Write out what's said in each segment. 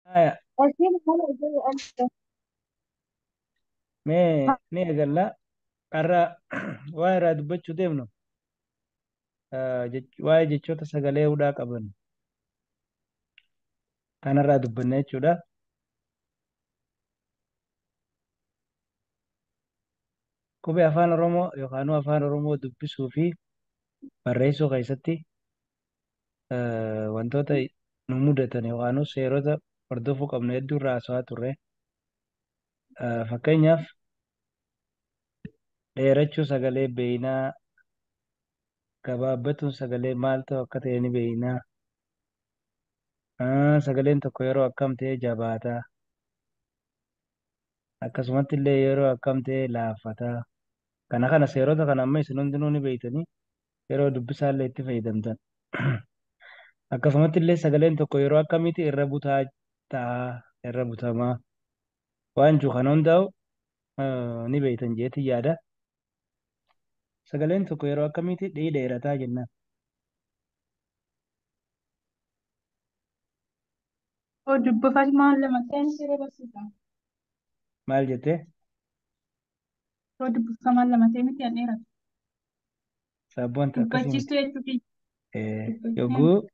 Haya, Asiin mana ijaaruu amsa. mee ni eegalla. Har'a waa irraa dubbachuu deemnu ah, jech- waa'ee jechoota sagalee hudhaa qaban kanarraa dubbanna jechuudha. Qubee afaan Oromoo yookaan afaan Oromoo dubbisuu fi barreessuu keessatti eh, wantoota nu mudatan yookaan seerota hordofuu qabnu hedduu irraa haasawaa turre. Eh, Fakkeenyaaf dheerachuu sagalee beeynaa, gabaabbatuun sagalee maal ta'u akka ta'e ni beeynaa. Ah, Sagaleen tokko yeroo akkam ta'e jabaata. Akkasumatti illee yeroo akkam ta'e laaffata. Kana kana seerota kana amma isin hundinuu ni beektanii yeroo dubbisaa illee itti fayyadamtan. Akkasumatti illee sagaleen tokko yeroo akkamiiti irra butaa ta'a, irra butamaa waan jiru kan hundaa'u ni beektan jeetti yaada. Sagaleen tokko yeroo akkamiiti dhii dheerataa jennaan. Dubbifati maal lama ta'in siree barsiisa. Maal jettee? Yoo dubbifamaan lama ta'e miti an dheeratu. Saabboonta akkasii miti. Dubbachiistuu jechuu kiyya. Eh, Dubbachiistuu. Yogguu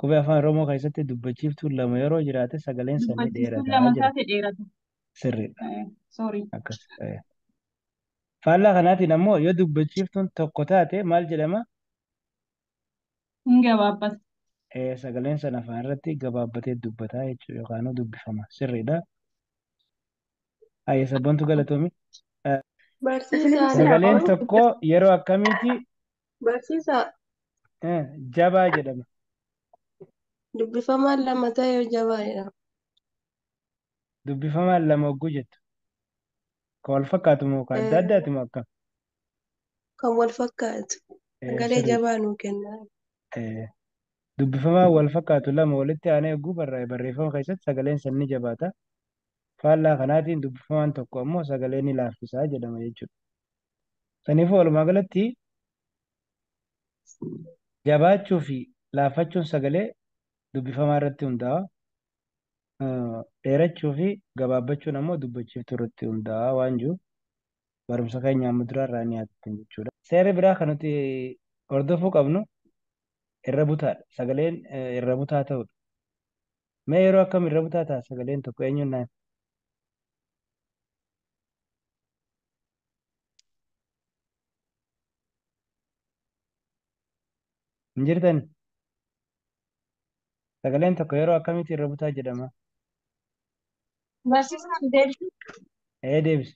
qubee afaan Oromoo keessatti dubbachiiftuun lama yeroo jiraate sagaleen isaa ni Dubbachiistuun dheerata lama jedha. taate dheeratu. Sirriidha. Eh, Sorry. Akkas. eh. Faallaa kanaatiin ammoo yoo dubbachiiftuun tokko taate maal jedhama? Hin gabaabbatu. Eh, Sagaleen sana afaan irratti gabaabbatee dubbataa jechuudha yookaan dubbifama. Sirriidha. Ayya sabboontu galatoomi. Barsiisaa Sagaleen Naafoo, tokko yeroo akkamiiti barsiisaa eh, jabaa jedhama. dubbifamaan lama ta'e yoo jabaa jedhama. Dubbifamaan lama hogguu jettu. Kan wal fakkaatu moo kan adda addaati moo akkam? Kan wal fakkaatu. Eh, Sagalee sirrii. jabaa nuu kenna. Eh, Dubbifamaan wal fakkaatu lama walitti aanee hogguu barraa'e barreeffama keessatti sagaleen san ni jabaata. Faallaa kanaatiin dubbifamaan tokko ammoo sagalee ni laaffisa jedhama jechuudha. Saniifuu walumaa galatti jabaachuu fi laaffachuun sagalee dubbifamaa irratti hundaa'a. Dheerachuu fi gabaabbachuun ammoo dubbachiiftuu irratti hundaa'a waan jiru barumsa keenya amma duraa irraa ni yaadattan jechuudha. Seerri biraa kan nuti hordofuu qabnu irra butaadha. Sagaleen irra butaa ta'uudha. Mee yeroo akkam irra butaa ta'a sagaleen tokko eenyuun naan? Hin jirtani? Sagaleen tokko yeroo akkamitti irra butaa jedhama? Barsiisaan deebisu Ee deebisu.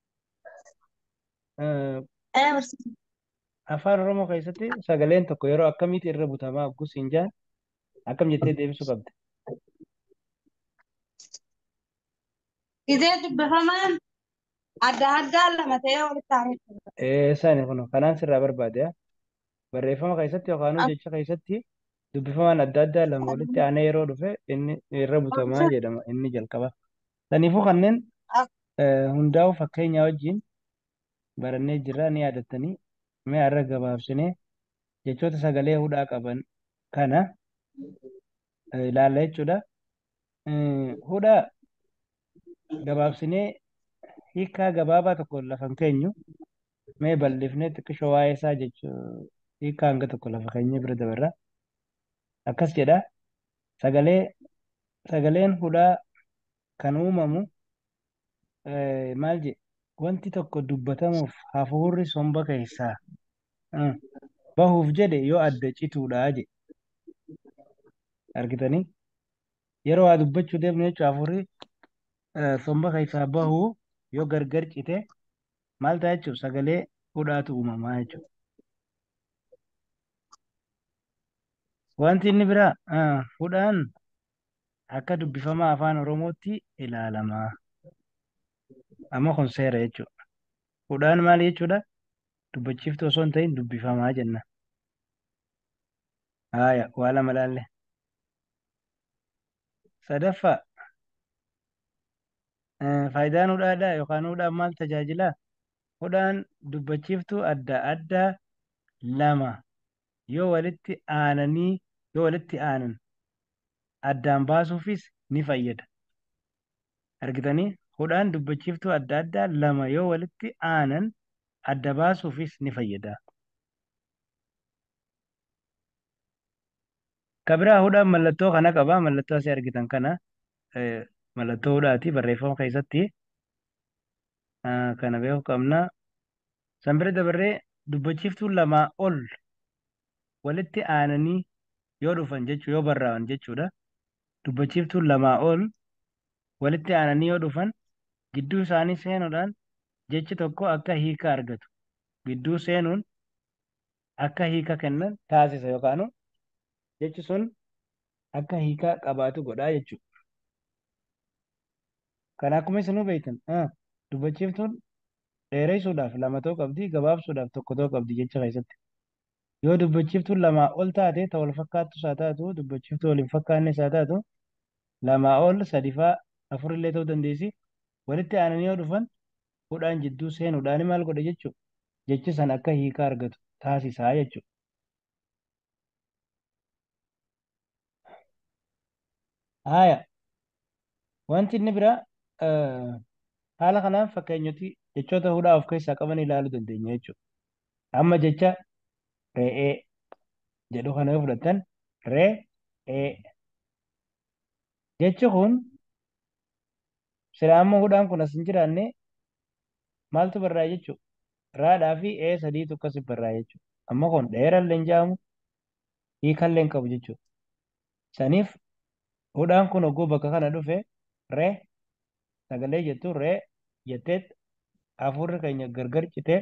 Eh, Ee, barsiisa. Afaan Oromoo keessatti sagaleen tokko yeroo akkamiitti irra butamaa oggus hin jaan akkam jettee deebisuu qabda. Gizee dubbifamaan adda addaa lama ta'ee walitti aanutti. Eh, Isaani kun kanaan sirraa barbaade yaa. barreeffama keessatti yookaan jecha keessatti dubbifamaan adda addaa lama walitti aanee yeroo dhufe inni irra butamaa jedhama inni jalqaba. Saniifuu kanneen eh, hundaa'u fakkeenyaa wajjin barannee jirra ni yaadattanii mee har'a gabaabsinee jechoota sagalee hudhaa qaban kana eh, ilaalla jechuudha. Eh, Hudha gabaabsinee hiikaa gabaabaa tokko lafa hin keenyu mee bal'ifnee xiqqishoo waa'ee isaa jechuu hiikaa hanga tokko lafa keenyee bira dabarra. akkas jedha, Sagalee, sagaleen hudhaa kan uumamu maal jedhe? Wanti tokko dubbatamuuf hafuurri somba keessaa bahuuf jedhe yoo adda cituudha jedhe. Argitanii? Yeroo waa dubbachuu deemnu jechuun hafuurri somba keessaa bahu yoo gargar cite maal ta'a jechuudha? Sagalee hudhaatu uumamaa jechuudha. Wanti inni biraa ah, hudhaan akka dubbifamaa afaan Oromootti ilaalama. Amma kun seera jechuudha. Hudhaan maal jechuudha? Dubbachiiftuu osoo hin ta'in dubbifamaa jenna. Haaya, waa lama ilaalle. Sadaffaa, eh, faayidaan hudhaadhaa yookaan hudhaan maal tajaajilaa? kudhan dubbachiiftuu adda adda lama yoo walitti aananii yoo walitti aanan addaan baasuufis ni fayyada. Argitanii? Kudhan dubbachiiftuu adda adda lama yoo walitti aanan adda baasuufis ni fayyada. Ka biraa hudhaan mallattoo kana qaba. Mallattoo asii argitan kana mallattoo hudhaati barreeffama keessatti. Ah, kana beeku qabna. San bira dabarree dubbachiiftuun lamaa ol walitti aananii yoo dhufan jechuu yoo barraa'an jechuudha. Dubbachiiftuun lamaa ol walitti aananii yoo dhufan gidduu isaanii seenuudhaan jechi tokko akka hiika argatu. Gidduu seenuun akka hiika kennan taasisa yookaanu jechi sun akka hiika qabaatu godhaa jechuudha. Kan akkuma isinuu beektan dubbachiiftuun dheeressuudhaaf lama ta'uu qabdi, gabaabsuudhaaf tokko ta'uu qabdi jecha keessatti. Yoo dubbachiiftuun lamaa ol taate ta wal fakkaattus haa taatu, dubbachiiftuu wal hin fakkaannes haa taatu, lamaa ol sadifaa afurillee ta'uu dandeessi. Walitti aananii yoo dhufan hudhaan jidduu seenuudhaan maal godhe jechuudha. Jechi san akka hiika argatu taasisaa jechuudha. Haaya. Wanti inni biraa haala kanaan fakkeenyoti jechoota hudhaa of keessaa qaban ilaaluu dandeenya jechuudha. Amma jecha re'ee jedhu kana yoo fudhattan re'ee jechi kun Silaa amma hudhaan kun as hin jiraanne maaltu barraa'e jechuudha. Raadhaa fi ee sadiitu akkasi barraa'e jechuudha. Amma kun dheerallee hin jedhamu hiikallee hin qabu jechuudha. Saniif hudhaan kun hogguu bakka kana dhufe re sagalee jettu re jettee hafuurri keenya gargar citee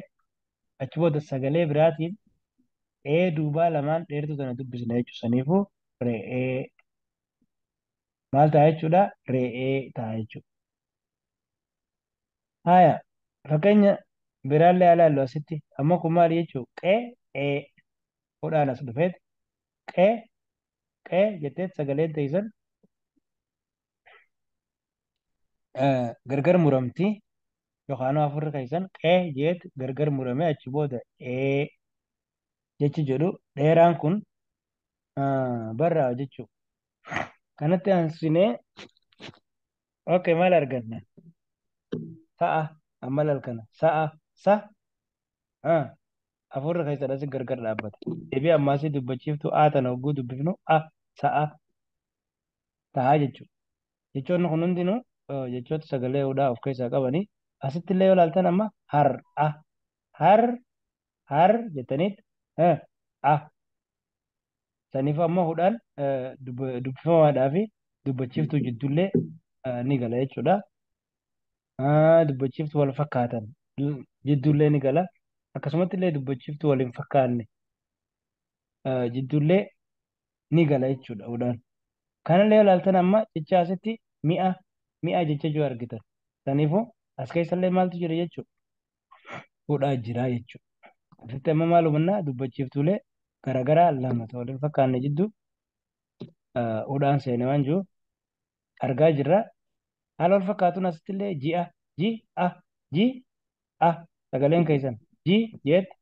achi booda sagalee biraatiin ee duubaa lamaan dheertuu tana dubbisna jechuudha. Saniifuu re'ee maal ta'a jechuudha re'ee ta'a jechuudha. Haaya fakkeenya biraallee haa ilaallu asitti amma kun maali jechuu qee ee hudhaan as dhufeet qee qee jetteet sagaleen teessan eh, gargar muramti yookaan afurri keessan qee jeet gargar muramee achi booda ee jechi jedhu dheeraan kun barraa'a jechuudha. Kanatti aansinee ok maal arganna? Sa'a amma laal kana sa'a sa afurri keessadha si gargar dhaabbata. Deebii ammaasii dubbachiiftu a tana hogguu dubbifnu a sa'a ta'a jechuudha. Jechoonni kun hundinuu jechoota sagalee hudhaa of keessaa qabanii asitti illee yoo ilaaltan amma har'a har'a har jettaniit ha a saniif amma hudhaan eh, dub- dubbifamaadhaa fi dubbachiiftuu jiddullee eh, ni gala jechuudha. Ah, dubbachiiftuu wal fakkaatan du- jiddullee ni gala. Akkasumatti illee dubbachiiftuu wal hin fakkaanne eh, jiddullee ni gala jechuudha hudhaan. Kanallee ilaaltan amma jecha asitti mi'a mi'a jecha jiru argitan. Saniifuu as keessallee maaltu jira jechuudha. godhaa jira jechuudha. Asitti amma maal hubannaa dubbachiiftuulee garaagaraa lama ta'u waliin fakkaanne jidduu udhaan seene waan jiru argaa jirra. Haala wal fakkaatuun asitti illee ji'a, ji'a, ji'a sagaleen keessan ji jeetti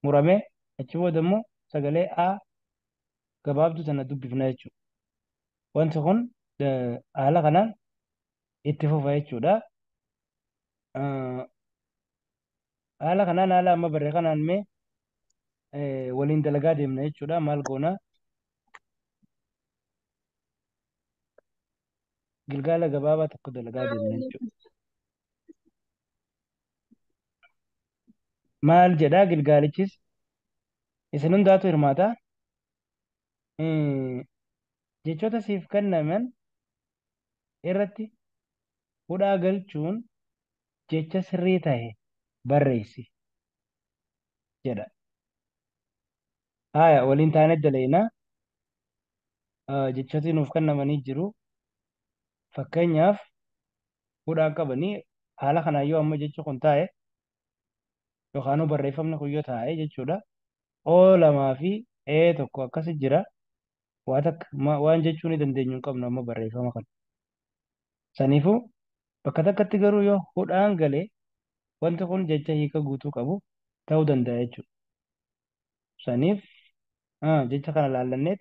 muramee achi booda immoo sagalee a gabaabduu tana dubbifna jechuudha. Wanti kun haala kanaan itti fufa jechuudha. Ah, haala kanaan haala amma barre kanaan mee eh, waliin dalagaa deemna jechuudha maal goona gilgaala gabaabaa tokko dalagaa deemna jechuudha maal jedha gilgaalichis isin hundaatu hirmaata Eh, jechoota siif kennaman irratti hudhaa galchuun jecha sirrii tahe barreessi jedha. Haaya waliin taanee dalaynaa jechooti nuuf kennamanii jiru. Fakkeenyaaf hudhaan qabanii haala kanaan yoo amma jechi kun taa'e yookaan barreeffamni kun yoo taa'e jechuudha. O lamaa fi E tokko akkasi jira. waa takka ma- waan jechuu ni dandeenyu hin qabnu amma barreeffama kana. Saniifuu bakka takkatti garuu yoo hudhaan gale wanti kun jecha hiika guutuu qabu ta'uu danda'a jechuudha. Saniif ah, jecha kana laallanneet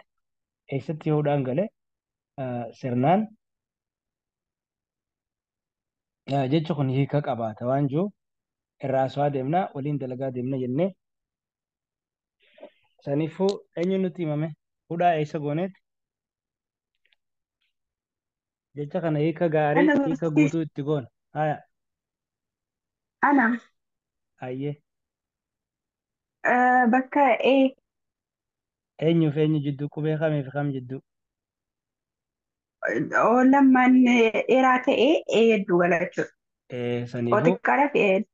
eessatti yoo hudhaan gale ah, sirnaan ah, jechi kun hiika qabaata waan jiru irraa haasawaa deemna waliin dalagaa deemna jennee Saniifuu eenyu nutti himame? Hudhaa eessa gooneeti? Jecha kana hiika gaarii, Ana hiika barsiis. guutuu itti goona. Haya, Ana hayyee. eh, bakka A Eenyuuf eenyu jidduu qubee kamiif kam jidduu? oo lammaan eh, dheeraa ta'ee A hedduu gala jechuudha. Eh, Oo Saniifuu xiqqaadhaaf A hedduu.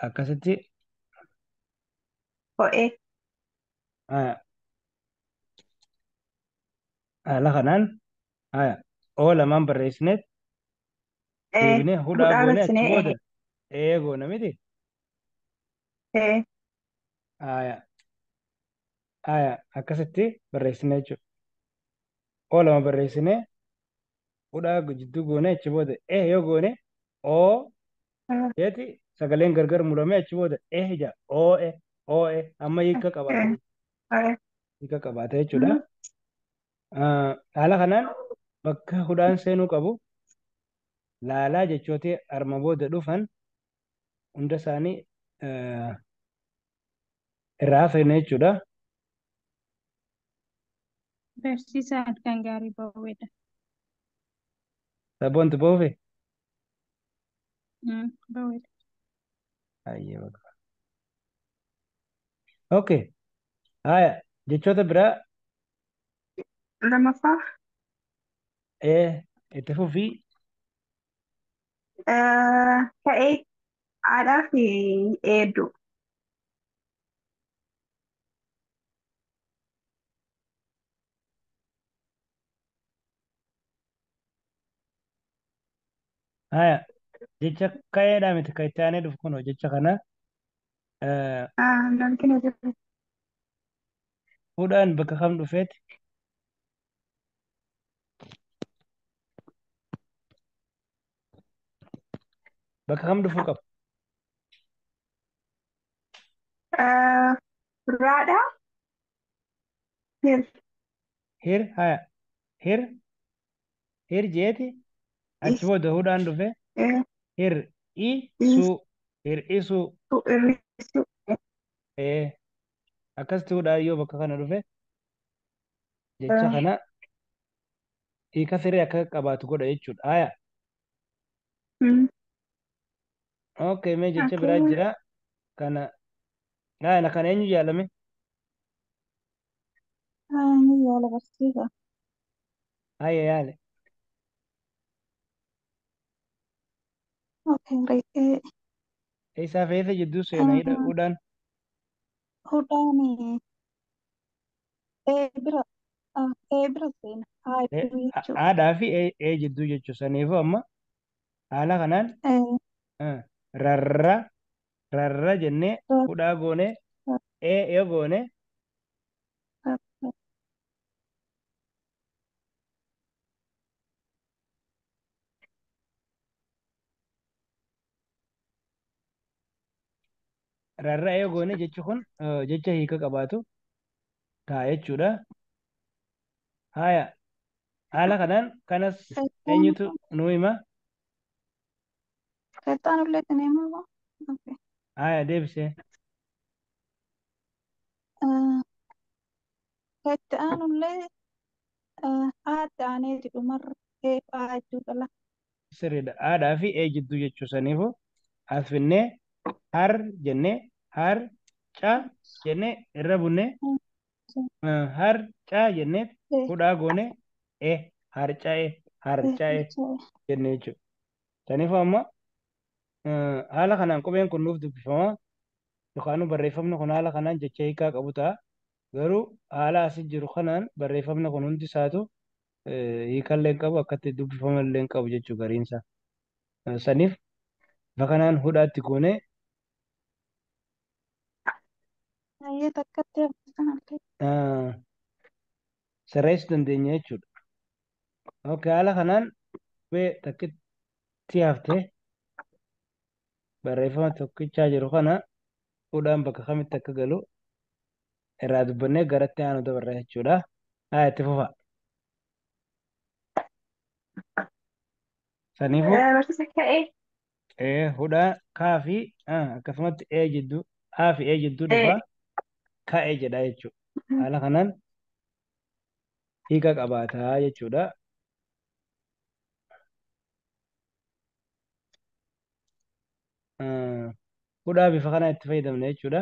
akkasitti Ho'ee. haya, haala kanaan haya, oo lamaan barreessineet Ee. deebinee hudhaa Hudhaa goonee achi bassinee. booda Ee. ee goona miti Ee. haya, haya, akkasitti barreessine jechuudha oo lama barreessinee hudhaa jidduu goonee achi booda eh yoo goone oo Ah. jeeti sagaleen gargar muramee achi booda eh ija oo eh oo eh amma hiika qabaate Aye. hiika qabaate jechuudha. Ah, Haala kanaan bakka hudhaan seenuu qabu laalaa jechooti arma booda dhufan hunda isaanii eh, irraa hafe inni jechuudha. Barsiisaa halkan gaarii booweedha. Sabboontu boofe? Mm, Booweedha. Hayyee baqa. Okay. Haaya jechoota biraa Lamaffaa ee itti fufii Eh, Ta'ee haadhaa fi eedduu. Haya, jecha ka'eedhaa miti kan itti aanee dhufu kunoo jecha kana eh, Ah, Namni na jiru. hudhaan bakka kam dhufeeti? Bakka kam dhufuu qaba? Eh, Raadha. Hir. Hir haya. Hir. Hir jeeti. Achi booda hudhaan dhufe. Eh, Hir i su. Hir i su. tu irrisu. Eh. Akkasitti hudhaan yoo bakka kana dhufe. jecha kana hiika siree akka qabaatu godha jechuudha. Aya. Okay, mee jecha biraa jira. Kana laayana kana eenyu yaalame? Ni yaala barsiisa. Aya yaale. Okay, reettee Eessaa fe'eessa jidduu seena hidha hudhaan. hudhaani ee bira ah, ee bira seena haa E- jiru ha- jechuudha. haadhaa fi ee ee jidduu jechuudha. Saniifuu amma haala kanaan Ee, eh, rarra rarra jennee ra- hudhaa goonee ra- ee yoo goone ra- ra- Rarra'a yoo goone jechi kun eh, jecha hiika qabaatu ta'a jechuudha. Haaya haala kanaan kanas eenyutu nuu hima? Kattaan ullee itti neemaa baa. Okay. Haaya deebisee. Ah, Itti aanullee ah, aatti aaneeti dhumarra eef aa jechuu qala. sirriidha. Haadhaa fi ee jidduu jechuu saniifu as finnee har jennee har ca jennee irra bunnee eh, har ca jennee hudhaa goone e harca'e harca'e jennee jechuudha. Saniifu amma eh, haala kanaan qubeen kun nuuf dubbifama yookaan barreeffamni kun haala kanaan jecha hiikaa qabu ta'a. Garuu haala asi jiru kanaan barreeffamni kun hundi isaatu hiikallee hin qabu akkatti dubbifama illee hin qabu jechuu gariinsa saniif bifa kanaan hudhaatti goonee Baay'ee takkatti hafte kanallee. ah, sirreessuu dandeenya jechuudha. Okay, haala kanaan qubee takkitti haftee barreeffama tokkichaa jiru kana hudhaan bakka kamitti akka galu irraa dubbannee garatti aanu dabarra jechuudha. Haa itti fufa. Saniifu Barsiisa ka'ee. ee hudhaa kaa fi ah, akkasumatti ee jidduu aa fi ee jidduu Ee. dhufa ka'e jedha jechuudha. Haala kanaan hiika qabaataa jechuudha. Ah, Hudhaa bifa kanaa itti fayyadamna jechuudha.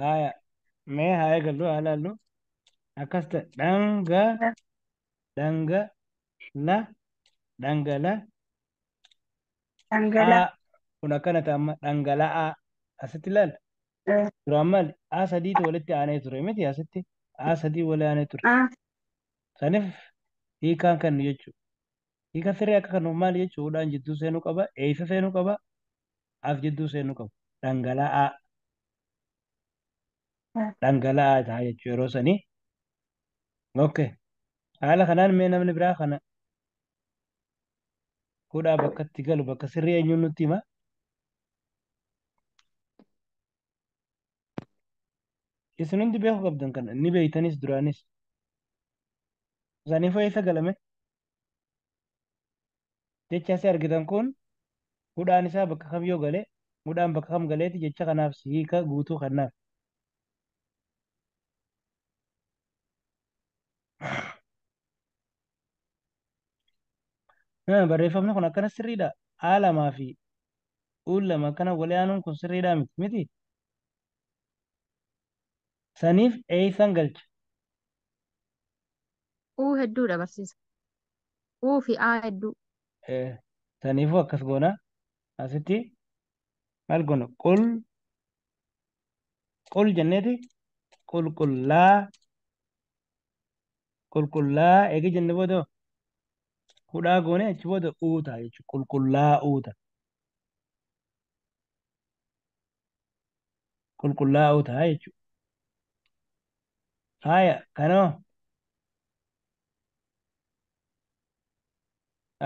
Haaya. Mee haa eegallu haa ilaallu. Akkas ta'e dhanga dhanga la dhangala Dhangala. a kun akkana ta'a amma dhangala'aa asitti ilaalla. Eh, Duraan maali? A sadiitu walitti aanee ture miti asitti A sadii wali aanee ture. ah, Saniif hiikaan kennu jechuudha. Hiika sirrii akka kennuuf maal jechuudhaan jidduu seenuu qaba, eessa seenuu qaba, as jidduu seenuu qabu. Dhangala'aa. Dhangala'aa ta'a jechuudha yeroo sanii. Okay. Haala kanaan mee namni biraa kana hudhaa bakka itti galu bakka sirrii eenyuun nutti hima? Isin hundi beeku qabdan kana ni beeytanis duraanis. Saniifoo eessa galame? Jecha asi argitan kun hudhaan isaa bakka kam yoo gale hudhaan bakka kam galeeti jecha kanaaf si hiika guutuu kennaaf. Ah, Barreeffamni kun akkana sirriidha. A lamaa fi U lama akkana wali aanuun kun sirriidha miti miti. Saniif eeysan galcha. Uu hedduudha barsiisa. Uu fi aa hedduu. Eh, Saniifuu akkas goona. Asitti maal goona? Qul qul jenneeti qulqullaa qulqullaa eegi jenne booda hudhaa goone achi booda uuta jechuudha. Qulqullaa uuta. qulqullaa'oo ta'a jechuudha. Faaya kanoo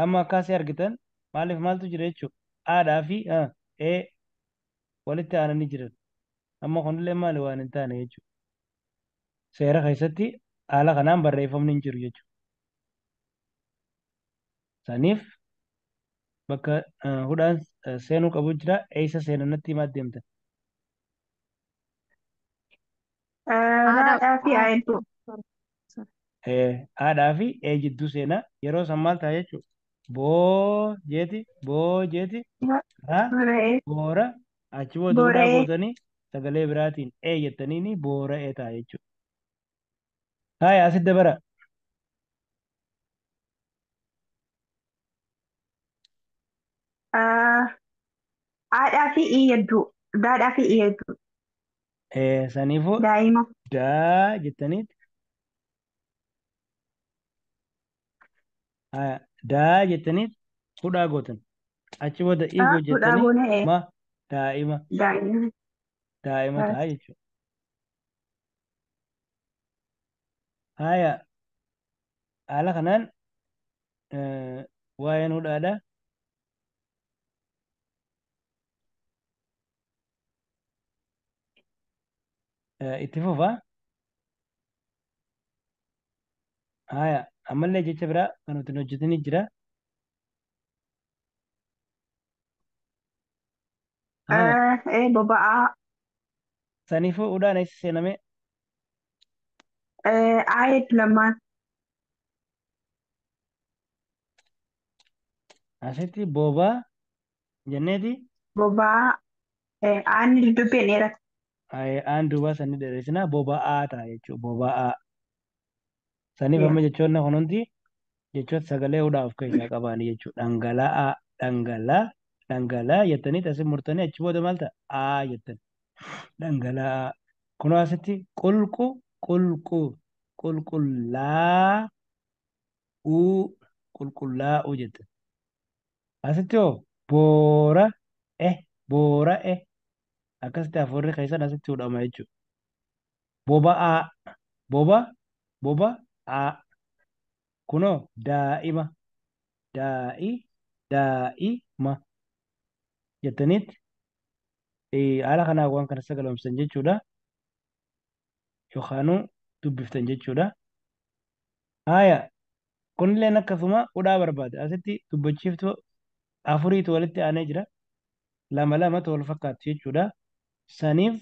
amma akkaasii argitan maaliif maaltu jira jechuudha. Aadhaa fi ee walitti aananii jiran. Amma kunillee maali waan hin taane jechuudha. Seera keessatti haala kanaan barreeffamni hin jiru jechuudha. saniif bakka eh, hudhaan eh, seenuu qabu jira eessa seena natti himaa deemta Haadha fi aayiltuu. Eh, haadhaa fi ee jidduu seenaa yeroo san maal ta'a jechuudha boo jeeti boo jeeti raa Boora'ee. boora achi booda hudhaa Boora'ee. gootanii sagalee biraatiin ee jettaniini boora'ee ta'a jechuudha Haya asit dabara. Aadhaa fi ii yadduu. Daadhaa fi ii yadduu. Eh, saniifuu Daa'ima. daa jettaniit. Haya, daa jettaniit hudhaa gootan. Achi booda ii Daa hudhaa hojjettanii goonee ee. ma daa'ima Daa'ima. daa'ima Daa. ta'a jechuudha. Haaya haala kanaan eh, waa'een hudhaadha. Eh, Itti fufa. Haaya ammallee jecha biraa kan nuti hin hojjetinii jira. Haa. Eh, eh, boba'aa. Saniifuu udhaan eessa seename? Eh, ayet lamaan. Asitti boobaa jenneeti. Boba'aa. Eh, aanni dubbiin dheerata. Aye, aan duubaa san ni dheeressinaa boba'aa ta'a jechuudha. Boba'aa. Saniif amma jechoonni kun hundi jechoota sagalee hudhaa of keessaa qabaani jechuudha. Dhangala'aa, dhangalaa, dhangalaa jettanii tasin murtanii achi booda maal ta'a? Aa jettan. Dhangala'aa. Kunoo asitti qulqu, qulqu, qulqullaa, uu, qulqullaa'uu jettan. Asitti hoo boora, eh, boora, eh. Akkasitti hafuurri keessan asitti hudhama jechuudha. boba'aa boba boba aa kuno daa'ima daa'i daa'i ma jettaniitti haala kanaa waan kana sagalomsitan jechuudha yookaanuu dubbiftan jechuudha haaya kunilleen akkasuma hudhaa barbaada asitti dubbachiiftu afuriitu walitti aanee jira lama lamatu wal fakkaatu jechuudha saniif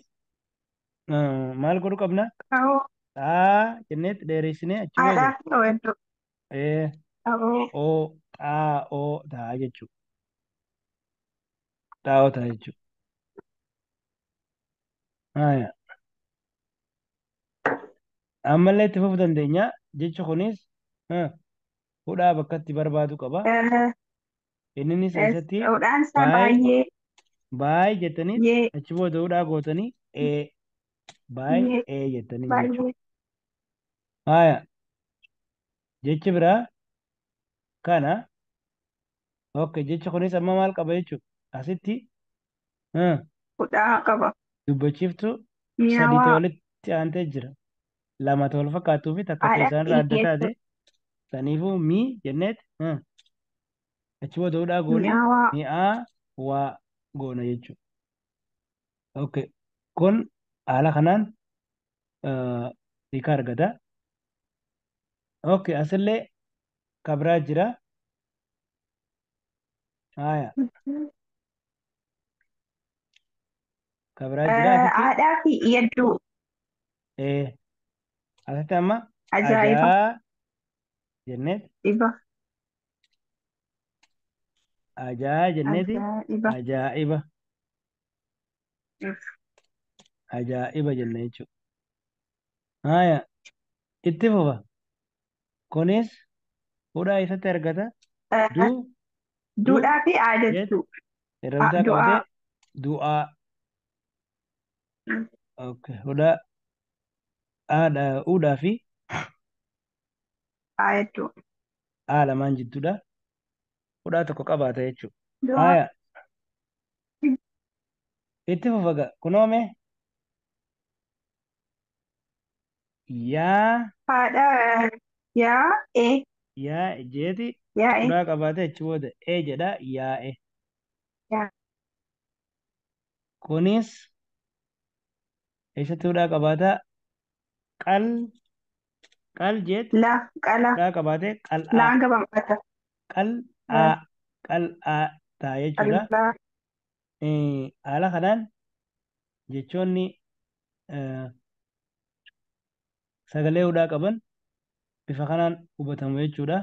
Ah, maal godhu qabna Ta'uu xaa jenneetti dheeressinee achi booda haadhaa fi oo'edduu. ee Ta'uu o xaa o taa jechuu xaa o taa jechuu Haya. ammallee itti fufuu dandeenya jechi kunis ah, hudhaa bakka itti barbaadu qaba. Eh, Inninis yes. eessatti Hudhaan isaa baay baay'ee baay jettaniit yee achi booda hudhaa gootanii ee baay yee ee jettanii jechuudha. baay'ee Haaya jechi biraa kana ok jechi kunis amma maal qaba jechuudha asitti ah, hudhaa qaba. dubbachiiftuu sadii Mi'aawaa walitti aantee jira lama ta'u wal fakkaatuu fi takka ta'e haadha isaanirraa adda dhiigeessu taate saniifuu mii jenneet ah, achi booda hudhaa goone mi'aawaa mi'aa waa goona jechuudha ok kun haala kanaan ah, hiika argata ok asillee kabraa jira Haya. Ka biraa jira asitti? Haadhaa fi yadduu. Ee. Asitti amma Ajaa'iba. ajaa jennee Iba. ajaa jenneeti Ajaa'iba. ajaa'iba ajaa'iba jenna jechuudha. Haaya. Itti fufa. Kunis hudhaa eessatti argata? Du, du, Duudhaa fi aa jet, jechuu. irra bitaa du'aa. qabatee du'aa. Okay. Hudhaa aadha, uudhaa fi Aa jechuu. aa lamaan jidduudha. Hudhaa tokko qabaata jechuudha. Du'aa. Haaya. Itti fufa gaa. Kunoo mee yaa haadha yaa e yaa jeeti yaa e quraa qabaate achi booda ee jedha yaa'e yaa kunis eessatti hudhaa qabaata qal qal jeet la qala hudhaa qabaate qal'aa laan gabamata qal'aa qal'aa ta'a jechuudha qal'aa Eh, Haala kanaan jechoonni eh, sagalee hudhaa qaban bifa kanaan hubatamu jechuudha.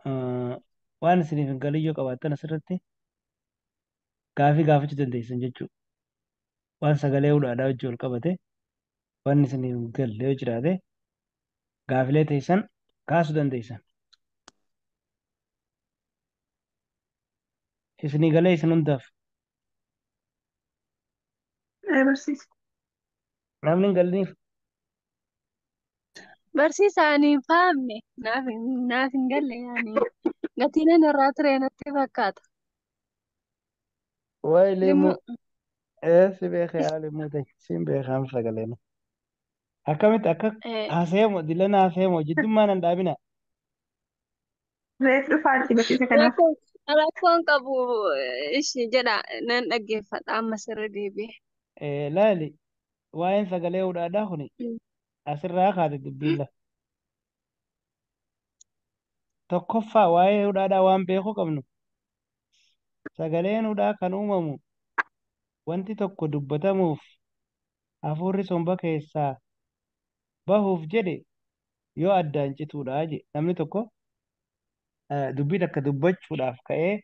Eh, Waan isiniif hin galin yoo qabaattan asirratti gaafii gaafachuu dandeessan jechuudha. Waan sagalee hudhaadhaa wajjin wal qabate waan isiniif hin galle yoo jiraate gaafilee teessan kaasuu dandeessan. Isinii galee isin hundaaf. Ee barsiisa. Namni hin galiniif. Barsiisa ani hin fahamne. Naaf hin naaf hin galle yaani. Gatiin ani irraa ture natti fakkaata. Waa'ee Limuu. leemuu. Ee si beekaa yaa leemuu ta'e. Siin beekaan sagalee nu. Akkamitti akka Ee, haasayamu dilan haasayamu jiddummaan hin dhaabina. Reef dhufaa itti barsiisa kanaaf. Rakkoon rakkoon qabu eh, ishi jedha nan dhaggeeffadha amma sirri deebi'e. Eh, laali waa'een sagalee hudhaadhaa kuni Mm. asirraa kaate dubbiin lafa. Tokkoffaa waa'ee hudhaadhaa waan beekuu qabnu sagaleen hudhaa kan uumamu wanti tokko dubbatamuuf hafuurri somba keessaa bahuuf jedhe yoo addaan cituudha jedhe namni tokko dubbii takka dubbachuudhaaf ka'ee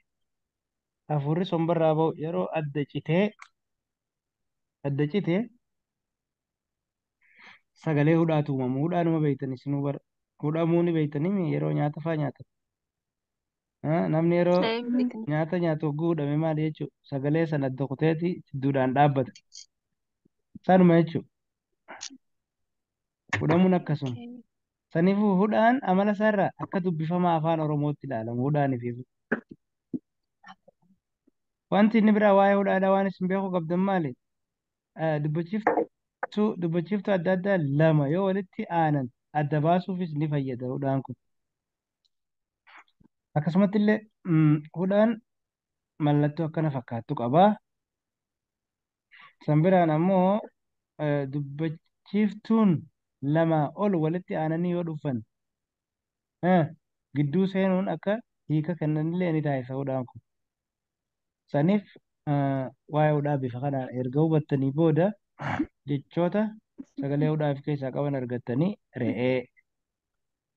hafuurri sombarraa bahu yeroo adda citee adda cite sagalee hudhaatu uumamu hudhaanuma beeytan isinuu bara hudhamuu ni beeytanii yeroo nyaata faa nyaatan Ah, Namni yeroo Daa'imni kan nyaata nyaatu hogguu hudhame maal jechuudha? Sagalee sana adda kuteeti jidduudhaan dhaabbata. Sanuma jechuudha. Hudhamuun akkasuma. okay. Saniifuu hudhaan amala isaarraa akka dubbifama afaan Oromootti ilaalamu hudhaan fi wanti inni biraa waa'ee hudhaadhaa waan isin beekuu qabdan maali? Eh, Dubbachiiftuu dubbachiiftuu adda addaa lama yoo walitti aanan adda baasuufis ni fayyada hudhaan kun. Akkasumatti illee mm, hudhaan mallattoo akkana fakkaattu qaba. San biraan ammoo eh, dubbachiiftuun lamaa ol walitti aananii yoo dhufan eh, gidduu seenuun akka hiika kennanillee ni taasisa hudhaan kun. Saniif eh, waa'ee hudhaa bifa kanaan erga hubattanii booda jechoota sagalee hudhaa of keessaa qaban argattanii re'ee